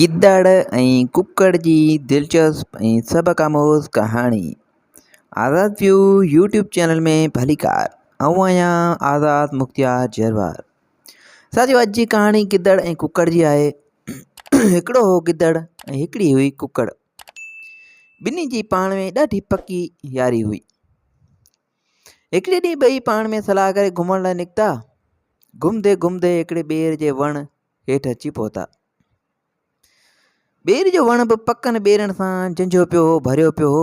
گدڙ ۽ ڪڪڙ جي دلچسپ ۽ سبق آموز ڪهاڻي آزاد ويو يوٽيوب چينل ۾ ڀليڪار آئون آهيان آزاد مختيار جروار ساٿيو اڄ جي ڪهاڻي گدڙ ۽ ڪڪڙ جي آهي هڪڙو هو گدڙ ۽ هڪڙي هئي ڪڪڙ ٻنهي جي پاڻ ۾ ڏاڍي پڪي ياري هئي هڪڙي ڏينهن ٻئي پاڻ ۾ صلاح ڪري گهمڻ لاء نڪتا گهمندي گهمندي هڪڙي ٻير جي وڻ هيٺ اچي پهتا ٻير جو وڻ به پڪن ٻيرن سان جنجهيو پيو هو ڀريو پيو هو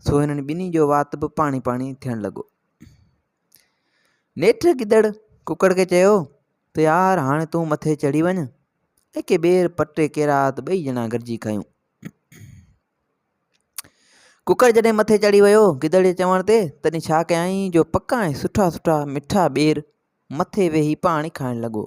سو هنن ٻنهي جو وات به پاڻي پاڻي ٿيڻ لڳو نيٺ گدڙ ڪڪڙ کي چيو ته يار هاڻي تون مٿي چڙهي وڃ اڪي ٻير پٽي ڪيرا ته ٻئي ڄڻا گڏجي کايون ڪڪڙ جڏهن مٿي چڙهي ويو گدڙ جي چوڻ تي تڏهن ڇا ڪيائين جو پڪا ۽ سٺا سٺا مٺا ٻير مٿي ويهي پاڻي کائڻ لڳو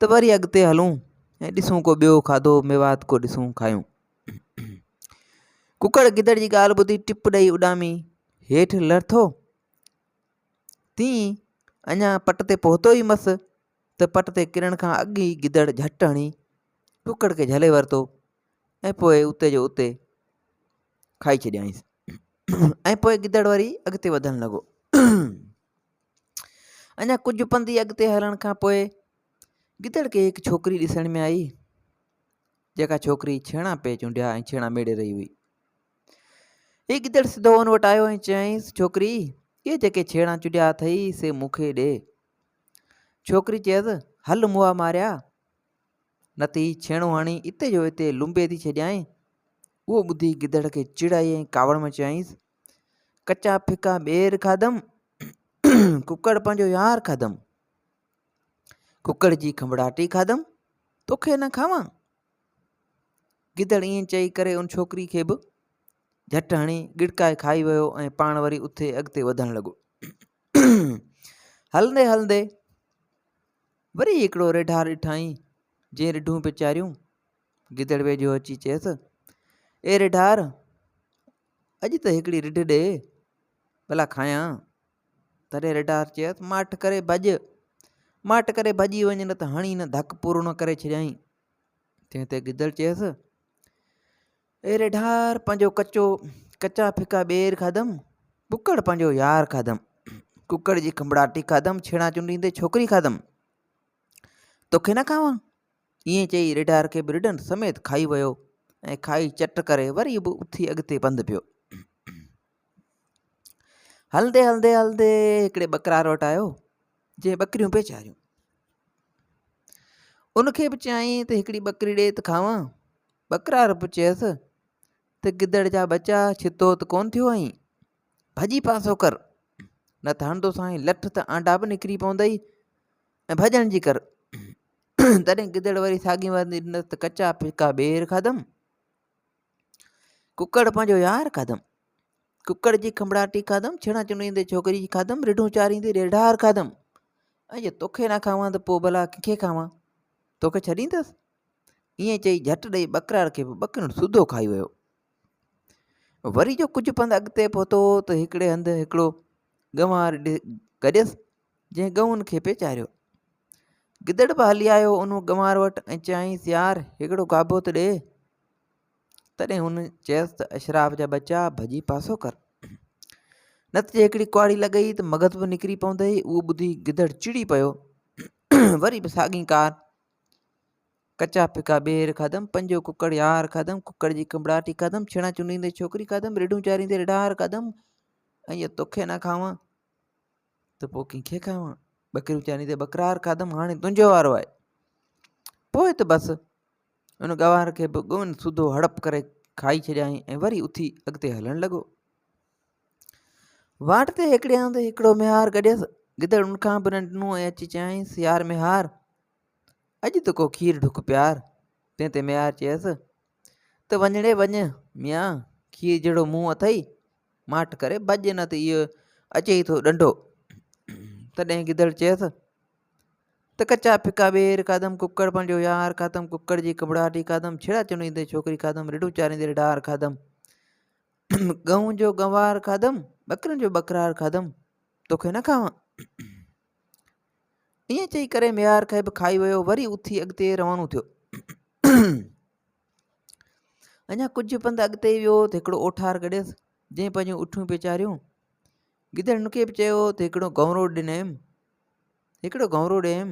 ته وري اڳتي هلون ۽ ڏسون ڪو ٻيو کاڌو ميوات ڪو ڏسون کايون ڪڪڙ گدڙ جي ڳالهه ٻڌي ٽپ ڏئي اڏامي هيٺ لرٿو تي اڃا پٽ تي پهتو ئي مس ته پٽ تي ڪرڻ کان اڳ ئي گدڙ جهٽ هڻي ڪڪڙ کي جهلي ورتو ۽ پوء اتي جو اتي کائي ڇڏيائينس ۽ پوء گدڙ وري اڳتي وڌڻ لڳو اڃا ڪجهه پنڌ ئي اڳتي هلڻ کان پوء گدڙ کي هڪ ڇوڪري ڏسڻ ۾ آئي جيڪا ڇوڪري ڇيڻا پئي چونڊيا ۽ ڇيڻا ميڙي رهي هئي هي گدڙ سڌو ان وٽ آيو ۽ چيائينس ڇوڪري اهي جيڪي ڇيڻا چونڊيا اٿئي سي مون کي ڏي ڇوڪري چيس هل موا ماريا نه ته هي ڇيڻو هڻي اتي جو اتي لنبي ٿي ڇڏيائين اهو ٻڌي گدڙ کي چڙ آئي ۽ ڪاوڙ ۾ چيائينس ڪچا ڦڪا ٻير کاڌم ڪڪڙ پنهنجو يار کاڌم ڪڪڙ جي کنڀڙاٽي کاڌم توکي نه کاوان گدڙ ائين چئي ڪري ان ڇوڪري کي به جھٽ هڻي ڳڙڪائي کائي ويو ۽ پاڻ وري اٿي اڳتي وڌڻ لڳو هلندي هلندي وري هڪڙو ريڍا ڏٺائين جي ريڍون پچاريون گدڙ ويجهو اچي چيس اي ريڍار اڄ ته هڪڙي رڍ ڏي، ڀلا کائيان. تڏهن رڍار چيس، ماٺ ڪري ڀڄ! ماٺ ڪري ڀڄي وڃ نه ته هڻي هن ڌڪ پورڻو ڪري ڇڏيائين. تنهن تي گدڙ چيس، اي رڍار پنهنجو ڪچو ڪچا ڦڪا ٻير کاڌم، ڪڪڙ پنهنجو يار کاڌم، ڪڪڙ جي کنڀڙاٽي کاڌم، ڇيڙا چنڊيندي ڇوڪري کاڌم، توکي نه کاوان؟ ائين چئي ريڍار کي به رڍن سميت کائي ويو ۽ کائي چٽ ڪري وري به اٿي اڳتي پنڌ پيو. هلندي هلندي هلندي هڪڙي ٻڪرار وٽ آيو جنهن ٻڪريون پئي چاريون ان کي به چيائين ته هڪڙي ٻڪري ڏي ته کاوان ٻڪرار به چيس ته گدڙ جا ٻچا ڇتو ته ڪون ٿيو آهين ڀڄي پاسو ڪر، نه ته هڻندو سائين لٺ ته آنڊا به نڪري پوندئي ۽ ڀڄڻ جي ڪر. تڏهن گدڙ وري ساڳي وندي ڏنس ته ڪچا ڦڪا ٻير کاڌم، ڪڪڙ پنهنجو يار کاڌم، ڪڪڙ جي کنڀڙاٽي کاڌم، ڇيڻا چنڙيندي ڇوڪري جي کاڌم، رڍون چاريندي ريڍار کاڌم ۽ جي توکي نه کاوان ته پوء ڀلا ڪنهن کي کاوان؟ توکي ڇڏيندس؟ ائين چئي جهٽ ڏئي ٻڪراڙ کي به ٻڪرڻ سوڌو کائي ويو. وري جو ڪجهه پنڌ اڳتي پهتو ته هڪڙي هنڌ هڪڙو ڳنوار گڏيس جنهن ڳئون کي پئي چاريو. گدڙ به هلي آيو ان ڳنوار وٽ ۽ چيائينس يار هڪڙو گابو ته ڏي. تڏهن هن چيس ته اشراف جا ٻچا ڀڄي پاسو ڪر. نت جي هڪڙي ڪهاڙي لڳئي ته مغز به نڪري پوندئي اهو ٻڌي گدڙ چڙي پيو وري به ساڳي ڪار ڪچا ڦڪا ٻيهر کاڌم، پنجو ڪڪڙ يار کاڌم، ڪڪڙ جي ڪنبڙاٽي کاڌم، ڇيڻا چونڊيندي ڇوڪري کاڌم، ريڍون چاريندي ريڍار کاڌم، ۽ جي توکي نه کاوان ته پوء ڪنهن کي کاوان؟ ٻڪريون چاريندي ٻڪرار کاڌم، هاڻي تنهنجو وارو آهي. پوء ته بس ان گوار کي به ڳون سڌو هڙپ ڪري کائي ڇڏيائين ۽ وري اٿي اڳتي هلڻ لڳو. واٽ تي هيڪڙي هنڌ هڪڙو ميهار گڏيس، گدڙ ان کان به نه ڏنو ۽ اچي چيائينس، يار ميهار! اڄ ته ڪو کير ڍڪ پيار. تنهن تي ميار چيس ته وڃڻي وڃ ميان کير جهڙو منهن اٿئي ماٺ ڪري ڀڄ نه ته اهو اچي ئي ٿو ڏنڊو. تڏهن گدڙ چيس ته ڪچا ڦڪا ٻير کاڌم ڪڪڙ پنهنجو يار کاڌم ڪڪڙ جي ڪٻڙاٽي کاڌم ڇڙا چنويندي ڇوڪري کاڌم رڍون چاريندي ڏار کاڌم ڳئون جو ڳنوار کاڌم ٻڪرين جو ٻڪرار کاڌم توکي نه کاوان ائين چئي ڪري ميار کي به کائي ويو وري اٿي اڳتي روانو ٿيو اڃا ڪجهه پنڌ اڳتي ويو ته هڪڙو اوٺار گڏيس جنهن پنهنجون اٺيون پئي چاريون گدڙ ان کي به چيو ته هڪڙو گهونرو ڏنم هڪڙو گهونرو ڏيم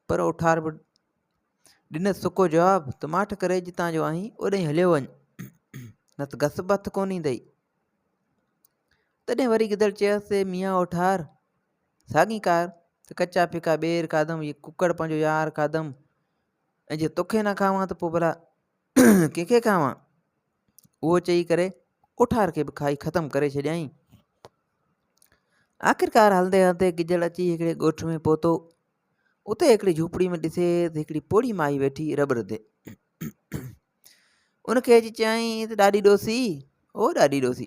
پر اوٺار به ڏنس سڪو جواب ته ماٺ ڪري جتان جو آهين اوڏانهن هليو وڃ نه ته گس به هٿ ڪونه ايندئي تڏهن وري گدڙ چيس ته ميان اوٺار ساڳي ڪار ته ڪچا ڦڪا ٻير کاڌم هي ڪڪڙ پنهنجو يار کاڌم ۽ جي توکي نه کاوان ته پوء ڀلا ڪنهن کي کاوان اهو چئي ڪري اٺار کي به کائي ختم ڪري ڇڏيائين آخرڪار هلندي هلندي گجڙ اچي هڪڙي ڳوٺ ۾ پهتو اتي هڪڙي جھوپڙي ۾ ڏسي ته هڪڙي پوڙهي مائي ويٺي رٻ رڌي ان کي اچي چيائين ته ڏاڏي ڏوسي او ڏاڏي ڏوسي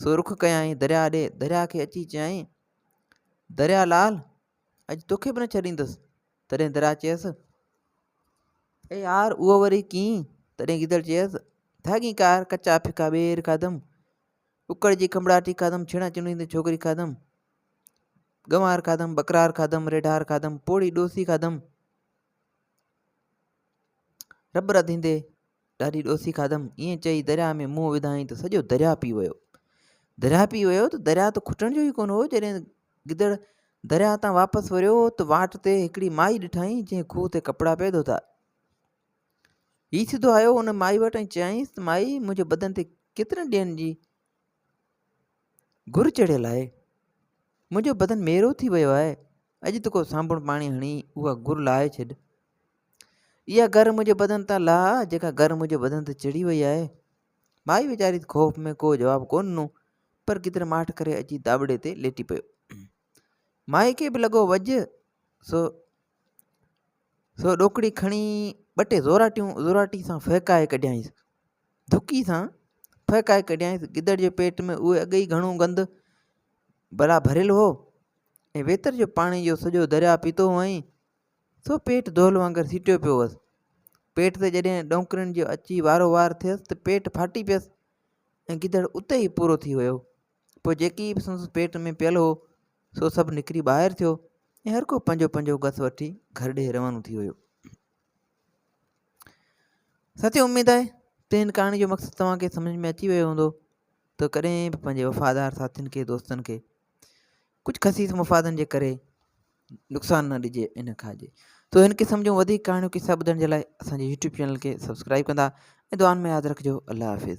سو رخ ڪيائين درياء ڏي، درياء کي اچي چيائين، درياء لال! اڄ توکي به نه ڇڏيندس. تڏهن درياء چيس، اي يار اهو وري ڪيئن؟ تڏهن گيدڙ چيس، ڌاڳين ڪار، ڪچا ڦڪا ٻير کاڌم، ڪڪڙ جي کنڀڙاٽي کاڌم، ڇيڻا چنڙيندي ڇوڪري کاڌم، گنوار کاڌم، ٻڪرار کاڌم، ريڍار کاڌم، پوڙهي ڏوسي کاڌم، رٻ رڌيندي ڏاڍي ڏوسي کاڌم. ائين چئي درياهه ۾ منهن وڌائين ته سڄو درياهه پي ويو. درياهه پي ويو ته درياهه ته کٽڻ جو ئي ڪونه هو. جڏهن گدڙ درياهه تان واپس وريو ته واٽ تي هڪڙي مائي ڏٺائين جنهن کوهه تي ڪپڙا پئي ڌوتا. هي سڌو آيو ان مائي وٽ ۽ چيائينس ته مائي منهنجي بدن تي ڪيترن ڏينهن جي گهر چڙهيل آهي. منهنجو بدن ميرو ٿي ويو آهي. اڄ ته ڪو سانبڻ پاڻي هڻي اها گهر لاهي ڇڏ. اها گهر منهنجي بدن تان لاهه جيڪا گهر منهنجي بدن تي چڙهي وئي آهي. مائي ويچاري خوف ۾ ڪو جواب ڪو ڏنو پر ڪيتري ماٺ ڪري اچي داٻڙي تي ليٽي پيو. مائي کي به لڳو وڄ سو سو ڏوڪڙي کڻي ٻه ٽي زوراٽيون زوراٽي سان ڦهڪائي ڪڍيائينس. ڌڪي سان ڦهڪائي ڪڍيائينس. گدڙ جي پيٽ ۾ اهو اڳ ئي گهڻو گند بلا ڀريل هو ۽ ويتر جو پاڻي جو سڄو درياء پيتو هئائين، سو پيٽ دهل وانگر سيٽيو پيو هوس. پيٽ تي جڏهن ڏونڪرين جو اچي وارو وار ٿيس ته پيٽ ڦاٽي پيس ۽ گدڙ اتي ئي پورو ٿي ويو. پوء جيڪي به سندس پيٽ ۾ پيل هو سو سڀ نڪري ٻاهر ٿيو ۽ هر ڪو پنهنجو پنهنجو گس وٺي گهر ڏي روانو ٿي ويو ساتي اميد آهي ته هن ڪهاڻي جو مقصد توهان کي سمجھ ۾ اچي ويو هوندو ته ڪڏهن به پنهنجي وفادار ساٿين کي دوستن کي ڪجھ خصيص مفادن جي ڪري نقصان نه ڏجي ۽ نه کائجي تو هن قسم جون وڌيڪ ڪهاڻيون قصا ٻڌڻ جي لاء اسان جي يوٽيوب چينل کي سبسڪرائب ڪندا ۽ دعائن ۾ ياد رکجو الله حافظ